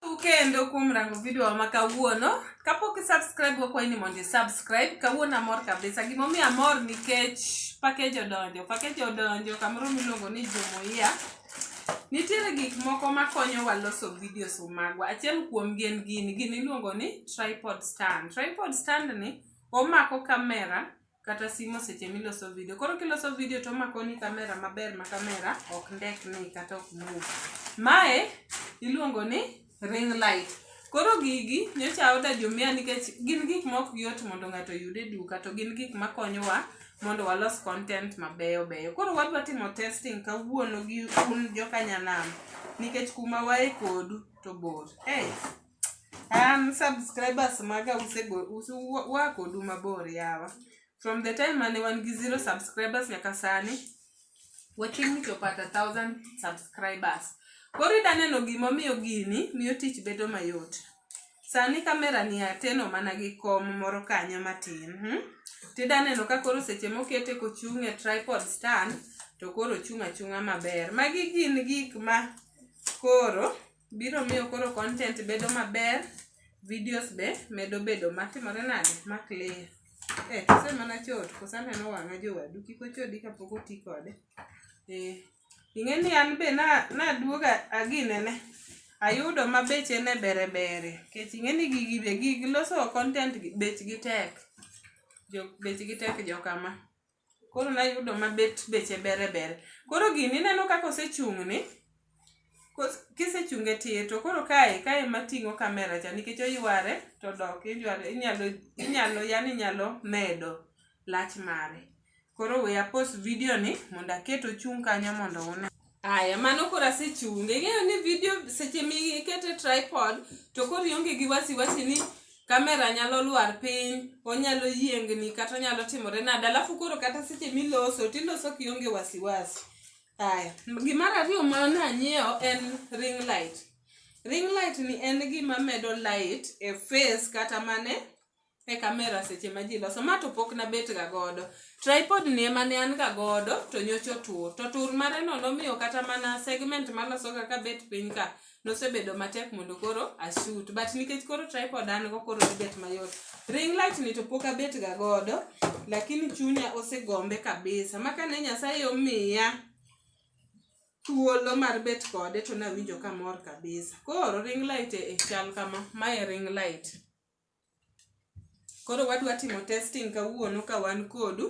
kendo kuom rango video ma kawuono kapok isubscribe wakwayi ni mondo isubscribe kawuono amor kabisa gimomiyo amor nikech pakej odonjo pakej odonjo kamoro miluongo ni jumuia nitiere gik moko makonyowa loso videos magwa achiel kuomgi en gini gini iluongo ni tripod stand tripod stand ni omako kamera kata simo seche miloso video. Koro kiloso video to omakoni kamera maber ma kamera ok ndekni kata ok move. Mae iluongo ni ring light. Koro gigi nyocha oda jomia nikech gin gik ma ok yot mondo ng'ato oyud e duka to gin gik makonyowa mondo walos content mabeyo beyo. Koro wadwa timo testing kawuono gi un jokanyanam nikech kuma wae kodu to bor. Hey. an subscribers maga wakodu mabor yawa from the time mane wan gi zero subscribers nyaka sani wachiegni chopo ata thousand subscribers koro ida neno gimomiyo gini miyo tich bedo mayot sani kamera ni ateno mana gi kom moro kanyo matin hmm? tida neno ka koro seche mokete kochung' e tripod stand to koro chung' achung'a maber magi gin gik ma koro biro miyo koro content bedo maber videos be medo bedo matimore nade ma clear eh kose mana chot kose aneno wang'a jowadu kik ochodi kapok oti kode eh ing'e ni an be na naduoga aginene ayudo ma beche ne bere bere kech ing'e ni gigi be gig loso content gi bechgi tek jo bechgi tek jokama Koro nayudo ma bet beche bere bere. Koro gini ineno kaka osechung' ni, kos- kisechunge tir to koro kae kae ema ting'o kamera cha nikech oyware to dok iyware inyalo inyalo yani inyalo medo lach mare. Koro we apos video ni mondo aket ochung' kanyo mondo une. Aya, mano koro asechunge. Ing'eyo ni video seche mikete tripod to koro ionge gi wasiwasi ni kamera nyalo lwar piny, onyalo yiengni kata onyalo timore nade. Alafu koro kata seche miloso tiloso kionge wasiwasi. Aya, gimar ariyo ma nanyiewo en ring light. Ring light ni en gima medo light e face kata mane e kamera seche ma ji loso ma to pok nabetga godo tripod ni ema ne an ga godo to nyocha otur to tur mareno nomiyo kata mana segment malosoga ka bet piny ka nosebedo matek mondo koro ashut but nikech koro tripod an go koro nibet mayot ring light ni to pok abetga godo lakini chunya osegombe kabisa ma kane nyasaye omiya thuolo mar bet kode to nawinjo kamor kabisa koro ring light e chal kama mae ring light Koro wadwa timo testing kawuono ka wan kodu.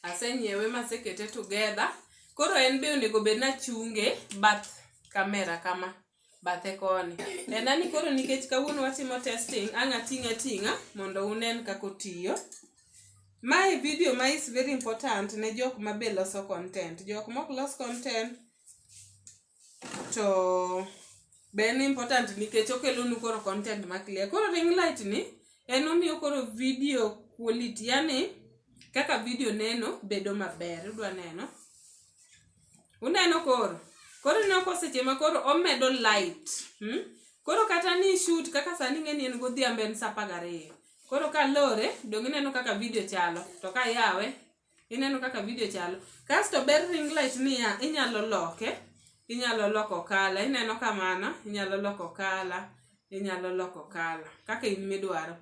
Asenyiewe masekete together. Koro en be onego bed ni achunge bath kamera kama, bathe koni. En ani koro nikech kawuono watimo testing, ang' ating'e ating'a mondo unen kaka otiyo. Mae video ma is very important ne jok ma be loso content. Jok mok los content, to be en important nikech okelonu koro content ma clear koro ring light ni en omiyo koro video quality yani kaka video neno bedo maber udwa neno uneno koro koro ineno ko seche ma koro omedo light hmm? koro kata ni shoot kaka sani ng'eni en godhiambo en sapa gariyo koro ka lore dong' ineno kaka video chalo to ka yawe ineno kaka video chalo kasto ber ring light niya inyalo loke inyalo loko kala ineno kamano inyalo loko kala inyalo loko kala kaka in midwaro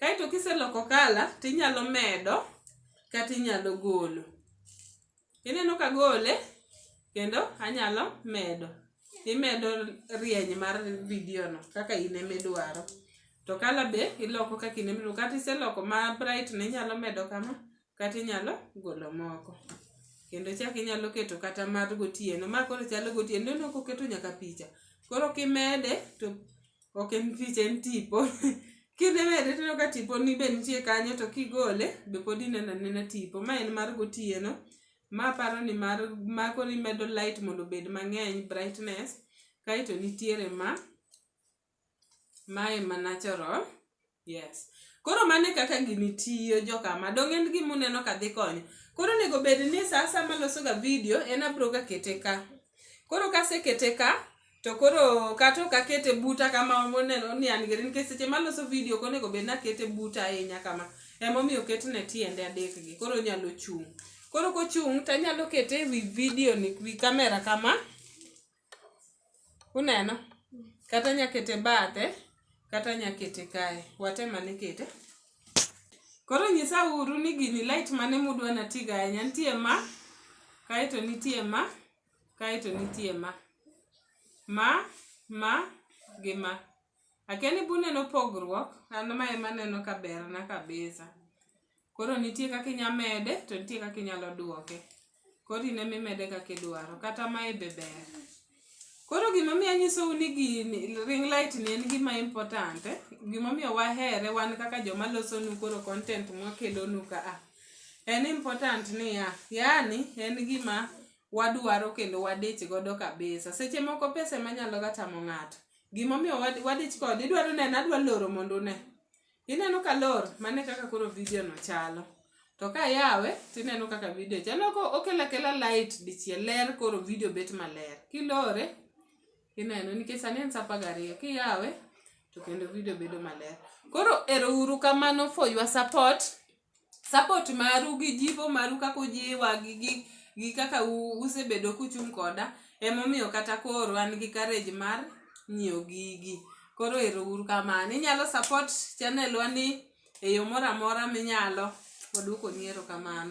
kaeto kiseloko kala tinyalo medo kata inyalo golo ineno ka gole kendo anyalo medo imedo rieny mar video no kaka in emidwaro to kala be iloko kaka in emidwaro kata iseloko ma bright ne inyalo medo kama kata inyalo golo moko kendo chak inyalo keto kata mar gotieno ma koro chalo gotieno ineno koketo nyaka picha koro kimede to ok en picha en tipo kidemede tineno ka tiponi be nitie kanyo to kigole be pod ineno anena tipo ma en mar gotieno ma aparo ni mar ma koro imedo light mondo obed mang'eny brightness kaeto nitiere ma Mae ma natural, yes. Koro mano e kaka gini tiyo jokama. Donge en gima uneno ka dhi konyo. Koro onego bed ni sa asaya ma aloso ga video en abiro ga kete ka. Koro ka asekete ka to koro kata ok akete buta kama moneno ni an geri nikech seche ma aloso video ok onego bed ni akete buta ahinya kama. Ema omiyo oketne tiende adek gi. Koro onyalo chung'. Koro kochung' to anyalo kete e wi video ni, wi kamera kama. Uneno? Kata anya kete bathe, kata anya kete kae. Watem ane kete. Koro nyisa uru ni gini light mane mudwa natigo ahinya. Nitie ma, kaeto nitie ma, kaeto nitie ma. Ma, ma, gi ma. Akia ni buneno pogruok, an ma ema aneno ka berna kabisa. Koro nitie kaka inya mede to nitie kaka inyalo duoke. Koro in ema imede kaka idwaro. Kata mae be ber. Koro gimomiyo anyisou ni gini ring light ni en gima important, eh, gimomiyo wahere wan kaka joma losonu koro content mwakelonu ka a. En important niya, yani en gima wadwaro kendo wadich godo kabisa. Seche moko pesa ema nyalo ga tamo ng'ato. gimomiyo wadich kod idwaro neno adwa loro mondo une ineno ka lor mane kaka koro video no chalo to ka yawe tineno kaka video chalo ko okela kela light dichiel ler koro video bet maler kilore ineno nikech sani en sapa gariyo kiyawe to kendo video bedo maler koro ero uru kamano for your support support maru gi jipo maru kaka ujiwa gi gi gi kaka u- usebedo kuchung' koda emomiyo kata koro an gi courage mar nyiewo gigi koro ero uru kamano inyalo support channel wa ni e yo moro amora minyalo wadwokoni erokamano